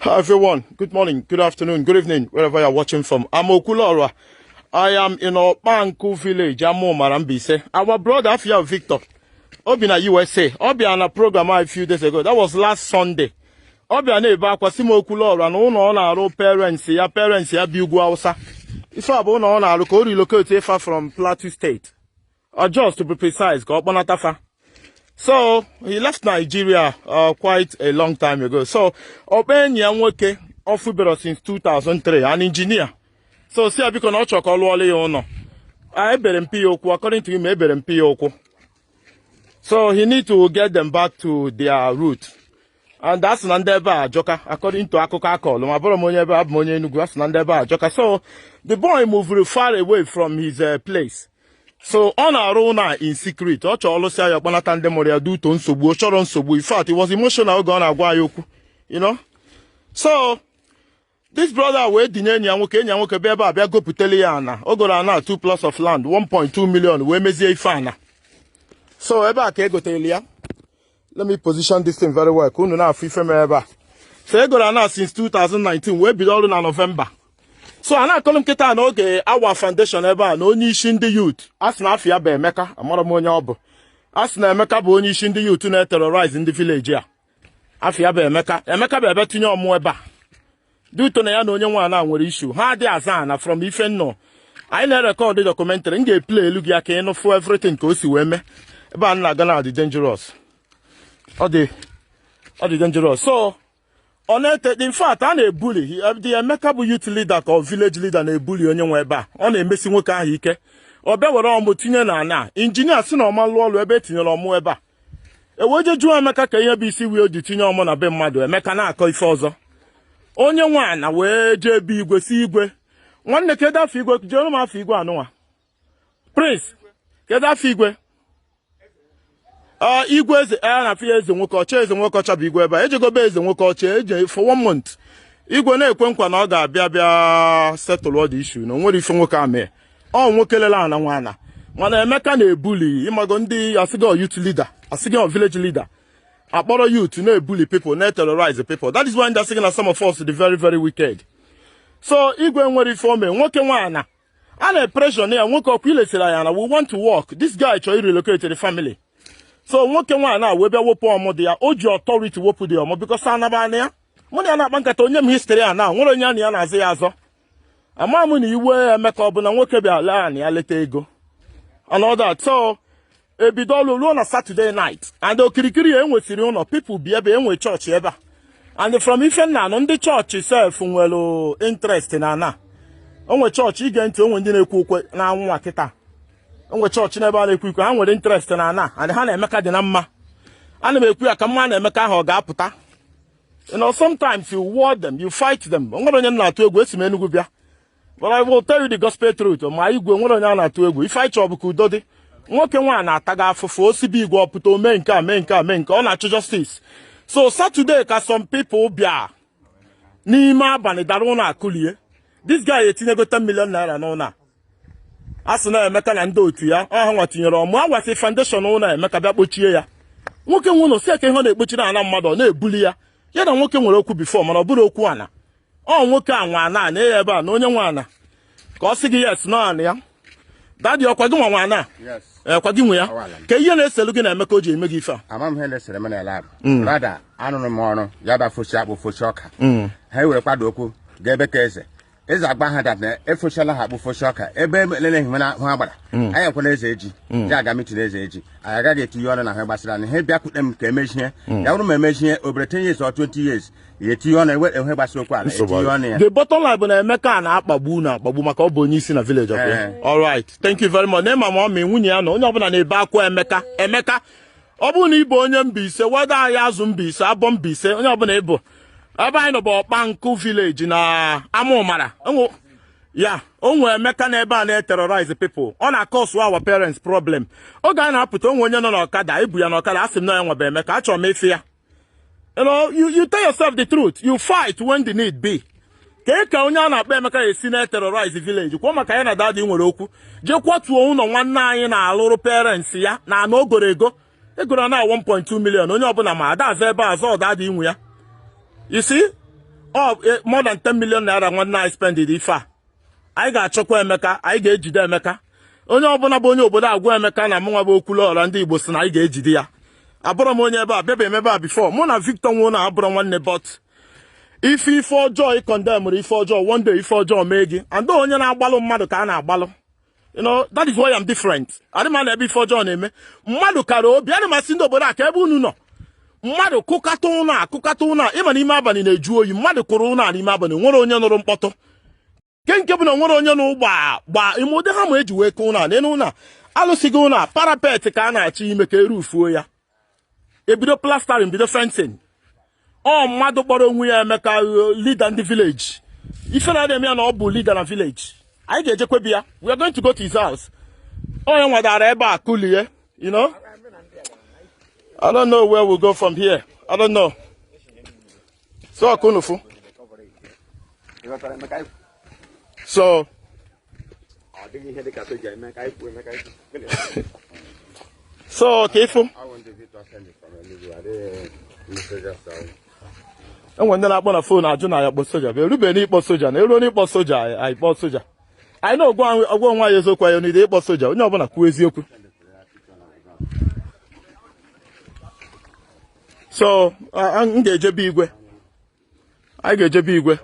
Hi everyone, good morning, good afternoon, good evening, wherever you're watching from. I'm Okwuluora. I am in Okpanku village, Amo Marambise. Our brother afa ya Victor Obinna USA, ọ bịa na program a few days ago. That was last Sunday. Ọ bịa na-ebe akwa sị m Okwuluora na ụlọ ọ na-arụ parents ya parents ya bi ugwu Hausa. Ife a bụ ụlọ ọ na-arụ ka o relocate fa from Plateau State. or Jos to be precise, ka ọ kpọnata fa. So he left Nigeria uh, quite a long time ago. So ọ kpọ enyi ya nwoke ọ fụberọ since 2003 an engineer. So sị ya biko na ọ chọrọ ka ọ lụọla ya ụlọ. Ebere mpi ya okwu according to him ebere mpi ya okwu. So he need to get them back to their root. and a sị na ndị ebe a ajọka according to akụkọ a kọlụ m abụrọ m onye ebe a abụ m onye Enugu a sị na ndị ebe a ajọka so the boy moved far away from his uh, place so ọ na-arụ ụlọ a in secret ọ chọọ ọ lụsịa ya ọ kpọnata ndị mụrụ ya due to nsogbu ọ chọrọ nsogbu in fact it was emotional oge ọ na-agwa ya okwu you know so this brother wee dinye enyi ya nwoke enyi ya nwoke bịa ebe a bịa gopụtele ya ana o goro ana 2 plots of land 1.2 million wee mezie ife ana so ebe a ka e gotelu ya let me position this thing very well ka unu na-afụ ife mere ebe a so e goro ana since 2019 wee bido ọrụ na November so a na-akọrọ m kịta na oge a wa foundation ebe a na onye isi ndị youth a sị na afa ya bụ Emeka amarọ m onye ọ bụ a sị na Emeka bụ onye isi ndị youth na-eterrorize ndị village a afa ya bụ Emeka Emeka bịa ebe a tinye ọmụ ebe a due to na ya na onye nwe ana nwere issue ha adị azọ ana from ife m nụ anyị na-erecord documentary m ga-eplaylụ gị ya ka ị nụ fụ everything ka o si wee mee ebe a na-aga na-adị dangerous ọ dị ọ dị dangerous so ọ na-ete in fact a na-ebully the emeka bụ youth leader ka ọ village leader na-ebully onye nwe ebe a ọ na-emesi nwoke ahụ ike ọ bịa were ọmụ tinye na ana engineer sị na ọ ma-alụ ọlụ ebe e tinyere ọmụ ebe a e wee je jụọ emeka kee ihe bụ isi wee ji tinye ọmụ na be mmadụ emeka na-akọ ife ọzọ onye nwe ana wee jee be igwe sị igwe nwanne kedu afa igwe jeere m afa igwe anụnwa prince kedu afa igwe ah, igwe eze a eh, na afa ya eze nwoke ọcha eze nwoke ọcha bụ igwe ebe a e jego be eze nwoke ọcha eje for one month igwe na-ekwe nkwa na ọ ga-abịa bịa settle all the issue na o nwerọ ife nwoke a mee ọ nwoke lele ana nwe ana mana emeka na-ebully ị mago ndị a sị gị ọ youth leader a sị gị ọ village leader a kpọrọ youth na-ebully people na-eterrorize people that is why ndị a sị gị na some of us dị very very wicked so igwe enwerọ ife o me nwoke nwe ana a na-epressure ya nwoke ọ kwa i lesiri anyị ana we want to work this guy chọrọ irelocate the family so nwoke nwe ana wee bịa wepụ ọmụ dị ya o ji authority wepụ the ọmụ because ana bụ ana ya mụ na ya na-akpa nkata o nye m history ana o nwerọ onye ya na ya na-azọ ya azọ ama m na iwe Emeka bụ na nwoke bịa lee anị ya leta ego and all that so ebido ọlụ ruo na Saturday night and okirikiri ya enwesịrị ụlọ people bi ebe e nwe church ebe a and from ife m na-anụ ndị church sef nwere interest na ana o nwe church i gee ntị o nwe ndị na-ekwe ukwe n'anwụ nwa kịta o nwe church n'ebe a na-ekwe ukwe ha nwere interest na ana and ha na Emeka dị na mma ana m ekwu ya ka m ma na Emeka ahụ ọ ga-apụta you know sometimes you warn them you fight them o nwerọ onye na-atụ egwu esi m Enugu bịa but I will tell you the gospel truth ma igwe nwerọ onye a na-atụ egwu ife anyị chọ bụ ka udo dị nwoke nwa na-ataga afụfụ o si be igwe ọ pụta o mee nke a mee nke a mee nke ọ na-achọ justice so Saturday ka some people bịa n'ime abalị dara ụlọ a kụlie this guy etinyego 10 million naira n'ụlọ a a sị na Emeka na ndị otu ya ọ ha nwa tinyere ọmụ a wasị foundation ụlọ Emeka bịa kpochie ya nwoke nwe ụlọ sị kee ihe ọ na-ekpochi na ana mmadụ ọ na-ebuli ya ya na nwoke nwere okwu before mana ọ bụrọ okwu ana ọ nwoke a nwe ana na ya ebe a na onye nwe ana ka ọ sị gị yes na ana ya daddy ọ kwa gị nwa nwe ana ee kwa gị nwe ya kee ihe na-eselu gị na Emeka o ji eme gị ife a ama m ihe na-esere m na lab mm. brother arụrụ m ọrụ ya ba fosi akpụ fosi ọka mm. ha were kwado okwu ga ebe ka eze eze agba ha that na efochala ha akpụ focha ọka ebe elele ihe mere ahụ agbara anyị ekwela eze eji ya aga meeting eze eji anyị agaghị etinye ọnụ n'ihe gbasara anyị ha bịakwute m ka emechie ya bụrụ ma emechie obere 10 years or 20 years ya etinye ọnụ ewe enwe gbasara okwu ala etinye ọnụ ya the bottom line bụ na Emeka a na-akpagbu na-akpagbu maka ọ bụ onye isi na village ọkwa Eh. all right thank you very much ma mama ọ ma nwunye ya na onye ọbụla na-ebe akwa Emeka Emeka ọ bụrụ na ị bụ onye Mbaise whether Ahiazu Mbaise Aboh Mbaise onye ọbụla ị bụ ebe anyị nọ bụ Ọkpankụ village na Amumara yeah o nwe Emeka na ebe a na-eterrorize people ọ na-acause our parents problem oge a na-apụta o nwe onye nọ n'ọkada e bu ya n'ọkada a sị m na ya nwa bụ Emeka achọrọ m ịfụ ya You know, you, you tell yourself the truth. You fight when the need be. kee ka onye a na-akpọ Emeka esi na-eterrorize village kwa maka ya na daddy nwere okwu jee kwatuo ụlọ nwanne anyị na-alụrụ parents ya na ana o goro ego e goro ana 1.2 million onye ọbụla ma ada azọbe azọ daddy nwe ya you see eh, more than 10 million naira nwanne anyị spendịrị ife a anyị ga-achọkwa Emeka anyị ga-ejide Emeka onye ọbụla bụ onye obodo agwa Emeka na mụnwa bụ Okwuluọra ndị Igbo sị na anyị ga-ejide ya abụrọ m onye ebe a abịabe m ebe a before mụ na Victor nwe ụnọ a abụrọ nwanne but ife ife ọjọọ ị condemnụrọ ife ọjọọ one day ife ọjọọ mee gị and onye na-agbalụ mmadụ ka a na-agbalụ you know that is why I'm different adị m anọ ebe ife ọjọọ na-eme mmadụ kara obi ana m asị ndị obodo a kee ebe unu nọ mmadụ kụkata ụlọ a kụkata ụlọ a ị ma na ime abalị na-ajụ oyi mmadụ kụrụ ụlọ a n'ime abalị nwerọ onye nụrụ mkpọtụ nke nke bụ na nwerọ onye nụrụ gbaa gbaa ị ma ụdị hammer e ji wee kụọ ụlọ a n'elu ụlọ a alụsịgo ụlọ a parapet ka a na-achọ ime ka e roofuo ya ebido plastering bido fencing ọ mmadụ kpọrọ onwe ya emeka uh, leader ndị village ife na-eme ya na ọ bụ leader na village anyị ga-ejekwa be ya we are going to go to his house onye nwadara ebe a kulie you know I don't know where we go from here I don't know so ọ ka unu fụ so so ka ị fụ enwe ndị na-akpọ na fon ajụ na ya kpọ soja bụ erube n'ịkpọ soja na eruo n'ịkpọ soja anyị kpọọ soja anyị na-agwa onwe anyị eziokwu anyị n'ide ịkpọ soja onye ọbụla kwuo eziokwu so m ga-eje be igwe anyị ga-eje be igwe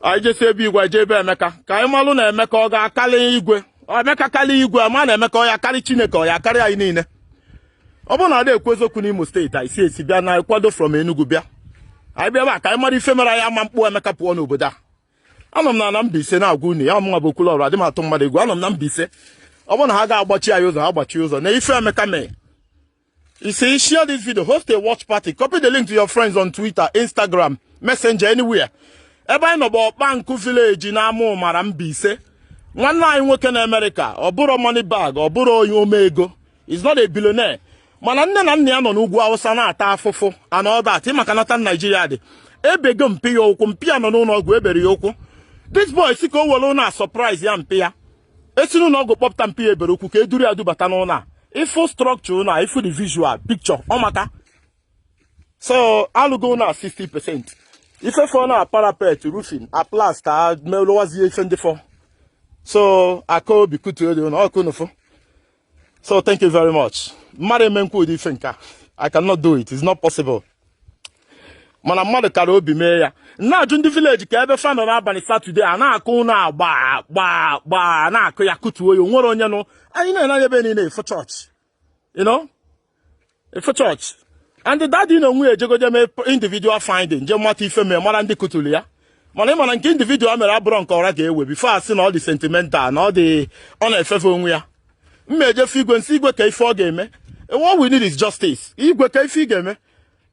anyị jesịa be igwe anyị jee be emeka ka anyị malụ na emeka ọ ga-akarị igwe emeka karị igwe ama na emeka ọ ya-akarị chineke ọ ya-akarị anyị niile ọ bụrụ na ada ekwu eziokwu n'imo steeti anyị si esi bịa na kwado from Enugu bịa anyị bịa ebe a ka anyị mara ife mere anyị ama akpụ emeka pụọ n'obodo a anọ m na na Mbaise na-agwa unu ya mụnwa bụ Okwuluọra adị m atụ mmadụ egwu anọ m na Mbaise ọ bụrụ na ha ga-agbachi anyị ụzọ ha gbachie ụzọ na ife emeka mee You see, share this video, host a watch party, copy the link to your friends on Twitter, Instagram, Messenger, anywhere. ebe anyị nọ bụ Ọkpankụ village n'Amụmara Mbaise nwanne anyị nwoke na Amerịka ọ bụrụ money bag ọ bụrụ onye omeego he's not a billionaire mana nne na nna ya nọ n'ugwu awụsa na-ata afụfụ and all that maka na etu Naijiria dị ebego mpa ya ụkwụ mpa ya nọ n'ụlọ ọgwụ ebere ya ụkwụ this boy sị ka o were ụnọ a surprise ya mpa ya esi n'ụlọ ọgwụ kpọpụta mpa ya ebere ụkwụ ka eduru ya dubata n'ụlọ a ị fụ structure ụlọ a ị fụ the visual picture ọ maka so alụgo ụlọ a 60 percent ife fọ na parapet roofing a plaster melowazie ife ndị fọ so a kaa obi kụtuo ụdị ụlọ ọ ka unu fụ so thank you very much mmadụ emenwu ụdị ife nke a i cannot do it it's not possible mana mmadụ kara obi mee ya m na-ajụ ndị village ka ebe fa nọ n'abalị satọde a na-akụ ụnọ a gba gba gba na-akụ ya kụtuo ya onwere onye nụ ị nee anya ebe niile ị fụ chọọchị you know ị fụ chọọchị and dadi na onwe ya ejego je mee individual finding je mata ife mee mara ndị kụturu ya mana ị ma na nke individual mere abụrọ nke ọra ga-ewe before a sị na ọ dị sentimental na ọ dị ọ na-efefe onwe ya m ejee fụ igwe m sị igwe ka ife ọ ga-eme what we need is justice igwe ka ife ị ga-eme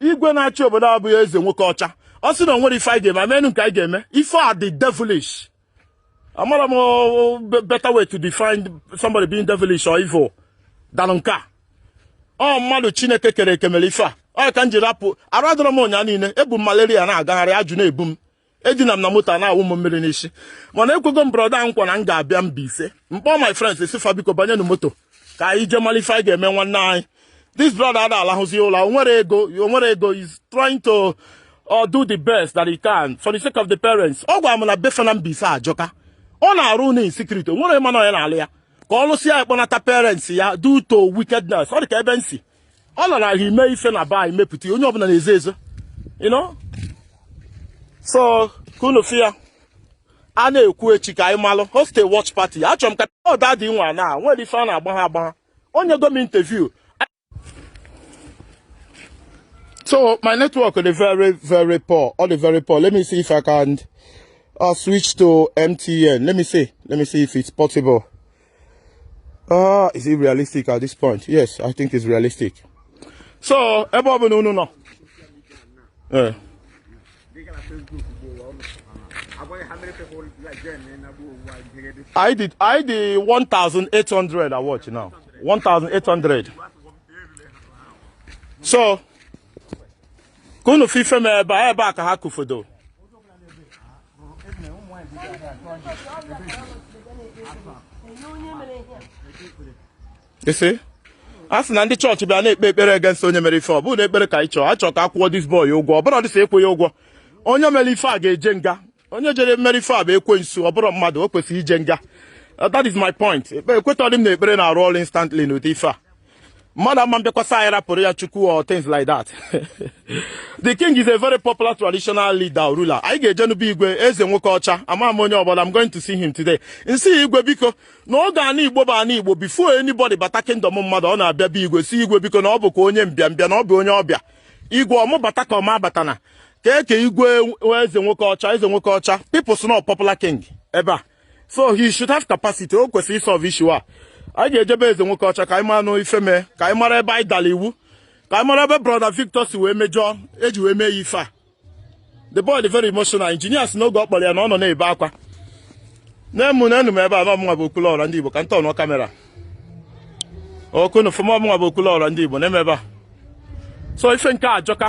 igwe na-achị obodo abụghị eze nwoke ọcha ọ sị na o nwere ife anyị ga-eme amenụ nke anyị ga-eme ife a dị devilish amarọ m oh, oh, better way to define somebody being devilish or evil than nke a ọ mmadụ chineke kere eke mere ife a ọ ka m ji rapụ arụ adịrọ m ụnya niile ebu m malaria na-agagharị ajụ na-ebu m edina m na moto na-awụ m mmiri n'isi mana ekwego m brọda nkwa na m ga-abịa Mbaise m kpọọ my friends sị fa biko banye na moto ka anyị jee mara ife anyị ga-eme nwanne anyị this brother ada alahụzi ụla o nwere ego o nwere ego he's trying to uh, do the best that he can for the sake of the parents ọ gwara m na be fa na Mbaise ajọka ọ na-arụ na insecurity o nwere ịma na onye na-alụ ya ka ọ lụsịa ya kpọnata parents ya due to wickedness ọ dị ka ebe m si ọ na-ara ahụ ime ife na be anyị mepụta onye ọbụla na-ezo ezo you know so ka unu fụ ya a na-ekwu echi ka anyị malụ host a watch party achọrọ m ka ọ da adị nwa na nwere ife a na-agbaha agbaha o nyego m interview so my network is very very poor all the very poor let me see if i can uh, switch to mtn let me see let me see if it's possible Oh, is it realistic at this point? Yes, I think it's realistic. So, ebe ọ bụla unu nọ. Eh. Anyị dị anyị dị 1800 I watch now. 1800. So, ka unu fụ ife mee ebe a ebe a ka ha kụfodo. you see a sị na ndị church bịa na-ekpe ekpere against onye mere ife ọ bụrụ na ekpere ka anyị chọọ a chọọ ka a kwụọ this boy ụgwọ ọ bụrọdị sọ ịkwụ ya ụgwọ onye mere ife a ga-eje nga onye jere mere ife a bụ ekwensu ọ bụrọ mmadụ o kwesịrị ije nga uh, that is my point ekwetọdị m na ekpere na-arụ ọrụ instantly n'ụdị ife a mmadụ ama mbịakwasa anyị rapụrụ ya chukwu or things like that the king is a very popular traditional leader or ruler anyị ga-ejenụ be igwe eze nwoke ọcha ama m onye ọ bụ I'm going to see him today m sị igwe biko na oge ana igbo bụ ana igbo before anybody bata kingdom mmadụ ọ na-abịa be igwe sị igwe biko na ọ bụkwa onye mbịambịa na ọ bụ onye ọbịa igwe ọ mụ bata ka ọ mụ abatana ka eke igwe eze nwoke ọcha eze nwoke ọcha people know popular king ebe a so he should have capacity o kwesịrị isolve issue a anyị ga-eje be eze nwoke ọcha ka anyị maranụ ife mee ka anyị mara ebe anyị dara iwu ka anyị mara ebe brother Victor si wee mejọọ eji wee mee ya ife a the boy is very emotional engineer sị n'oge ọ kpọrọ ya na ọ nọ na-ebe akwa na-emu na enu m ebe a na ọ mụnwa bụ okwulu ọra ndị Igbo ka m tọnụọ camera ka unu fụ m ọ mụnwa bụ okwulu ọra ndị Igbo na-eme ebe a so ife nke a ajọka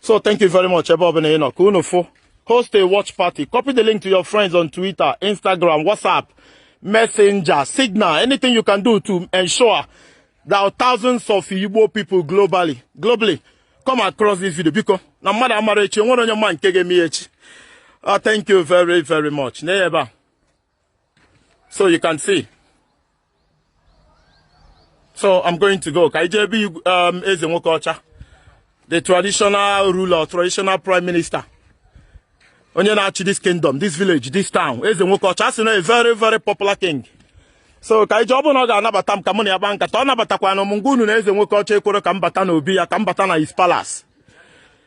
so thank you very much ebe ọbụla ị nọ ka unu fụ host a watch party copy the link to your friends on twitter instagram whatsapp messenger signal anything you can do to ensure that thousands of igbo people globally globally come across this video biko na mmadụ amarọ echi e nwerọ onye ma nke ga-eme echi ah, thank you very very much na ebe a so you can see so i'm going to go ka anyị jee ebe um, eze nwoke ọcha the traditional ruler traditional prime minister onye na-achị this kingdom this village this town eze nwoke ọcha sị na a very very popular king so ka anyị jee ọ bụrụ na ọ ga-anabata m ka mụ na ya gbaa nkata ọ nabatakwanụ m ngwa unu na eze nwoke ọcha ekwero ka m bata n'obi ya ka m bata na his palace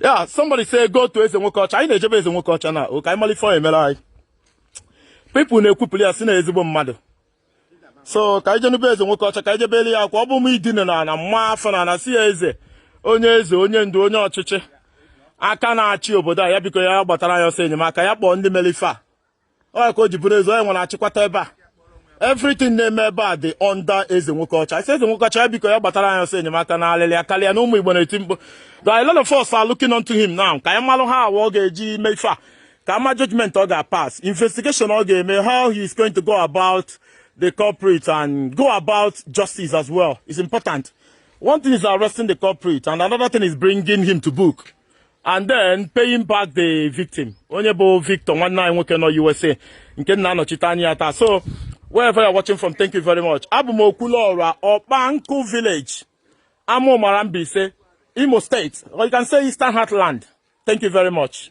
yeah somebody say go to eze nwoke ọcha anyị na-eje be eze nwoke ọcha na ka anyị malụ ife ọ emere anyị people na-ekwupụrụ ya sị na ezigbo mmadụ so ka anyị jenụ be eze nwoke ọcha ka anyị je bele ya akwa ọ bụ m idine na ana maa afọ na ana sị ya eze onye eze onye ndu onye ọchịchị aka na-achị obodo a ya biko ya gbatara anyị ọsọ enyemaka ya kpọọ ndị melụ ife a ọ ka o ji bụrụ eze onye nwere achịkwata ebe a everything na-eme ebe a dị under eze nwoke ọcha i say eze nwoke ọcha biko ya gbatara anyị ọsọ enyemaka na alịlị akarịa na ụmụ igbo na-eti mkpu that a lot of us are looking unto him now ka anyị malụ how ọ ga-eji mee ife a ka a ma judgment ọ ga-pass investigation ọ ga-eme how he is going to go about the culprit and go about justice as well is important one thing is arresting the culprit and another thing is bringing him to book and then paying back the victim onye bụ victor nwanne anyị nwoke nọ usa nke na-anọchite anya ya taa so wherever you're watching from thank you very much abụ m okwuluọra ọkpankụ village amaụmara mbaise imo state or you can say eastern heartland thank you very much